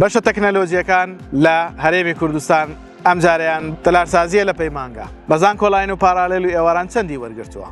بەشە تەکنەلۆجیەکان لە هەرێمی کوردستان ئەمجارەیان تەلارسازیە لە پەیمانگا بەزان کۆلاین و پارالێل و ئێواران چەندی وەرگرتووە.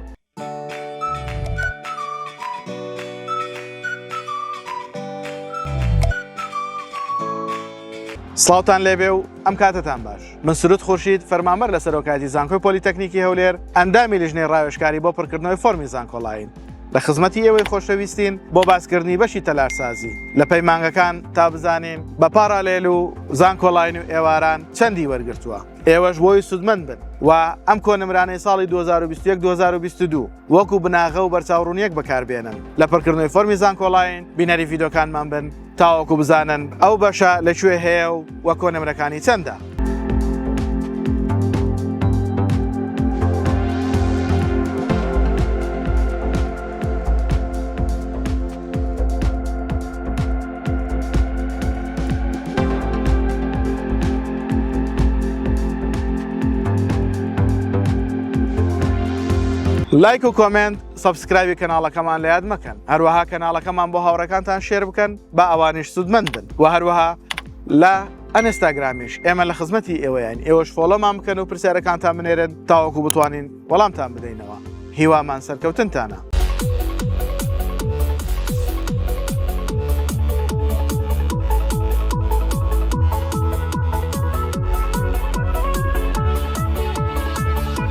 سلااوان لێبێ و ئەم کاتتان باش من سرود خورشید فەرمامەر لە سەرۆکاتی زانکۆی پۆلیتەکنیکی هەولێر ئەندامی لیژنەی ڕاوێشکاری بۆ پڕکردنەوەی فۆرمی زانکۆلاین لە خزمەتی ئێوەی خۆشەویستین بۆ باسکردنی بەشی تەلارسازی لە پەیمانگەکان تا بزانین بە پاڕالێل و زانکۆڵین و ئێواران چەندی وەرگتووە ئێوەش بۆی سوودمەند بن و ئەم کۆنمرانەی ساڵی 2021 2022 وەکو بناغە و بەرچاوڕوونیەک بەکاربێنن لە پڕکردنەوەی فەرمی زانکۆڵین بینەری یددیوکانمان بن تاوەکو بزانن ئەو بەشە لەکوێ هەیە و وە کۆنمرەکانی چەندە. لایک و کۆمنت سەبسکرایبی کەناڵەکەمان لە یاد مەکەن هەروەها کەناڵەکەمان بۆ هاوڕەکانتان شێر بکەن با ئەوانیش سوودمەند بن و هەروەها لە ئەنستاگرامیش ئێمە لە خزمەتی ئێوەیان ئێوەش فۆڵۆمان بکەن و پرسیارەکانتان بنێرن تاوەکو بتوانین وەڵامتان بدەینەوە هیوامان سەرکەوتنتانە.